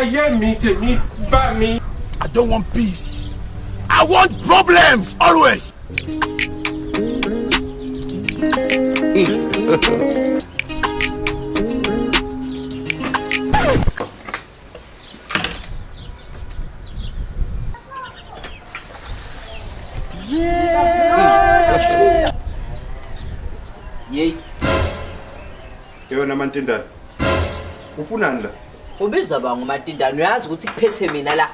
ayé mi tèmi bá mi. I don't want peace. I want problems always. Mm. Yey, Yewena amantindane. Ufunani la? ubiza ba ngomatindane uyazi ukuthi kuphethe mina la.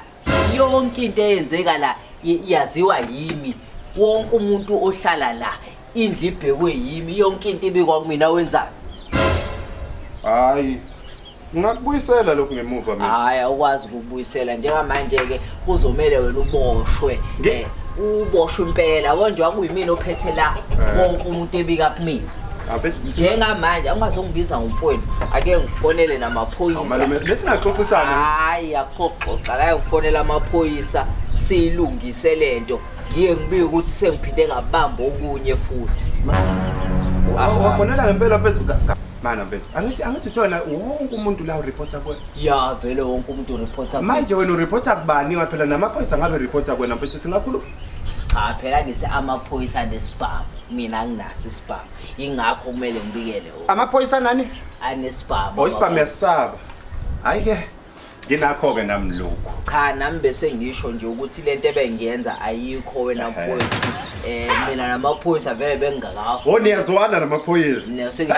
yonke into eyenzeka la y- yaziwa yimi wonke umuntu ohlala la indlu ibhekwe yimi yonke into ibikwa kumina wenzani Hayi. Ngakubuyisela lokhu ngemuva mina. hhayi awukwazi ukubuyisela njengamanje-ke kuzomele wena uboshwe Nge- Eh, uboshwe impela konje wakuyimina ophethe la Eh. wonke umuntu ebika kumina njengamanje angazongibiza ngomfowenu ake ngifonele namaphoyisa besingaxoxisana hayi axoxoxa kaye ngifonela amaphoyisa siyilungise le nto ngiye ngibike ukuthi sengiphinde ngabamba okunye futhi wafonela ngempela mfethu mana mfethu angithi angithi uthona wonke umuntu la ureporta kuwe ya vele wonke umuntu ureporta manje wena ureporta kubani waphela namaphoyisa ngabe reporta kuwena mfethu singakhuluma cha phela ngithi amaphoyisa anesibhamu mina anginaso isibhamu ingakho kumele ngibikele wona amaphoyisa nani anesibhamu oh isibhamu yasaba hayi ke nginakho ke nami lokho cha nami bese ngisho nje ukuthi lento ebengiyenza ayikho wena mfowethu eh mina namaphoyisa vele bengingakafa wo niyazwana namaphoyisa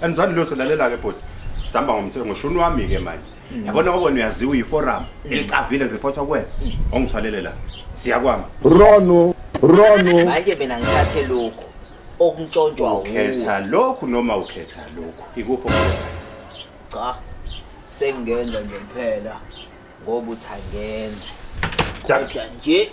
anizwani lutho lalela ke bhuti sihamba ngomthetho ngoshuni wami ke manje yabona kwakona uyaziwa uyiforum eliqavile ngiripotha kuwena ongithwalele la siyakwama rono rono manje mina ngithathe lokhu okuntshontshwa wuwe ukhetha lokhu noma ukhetha lokhu ikuphi okukhethayo cha sengenza nje kuphela ngoba uthi angenzi Jack. kodwa nje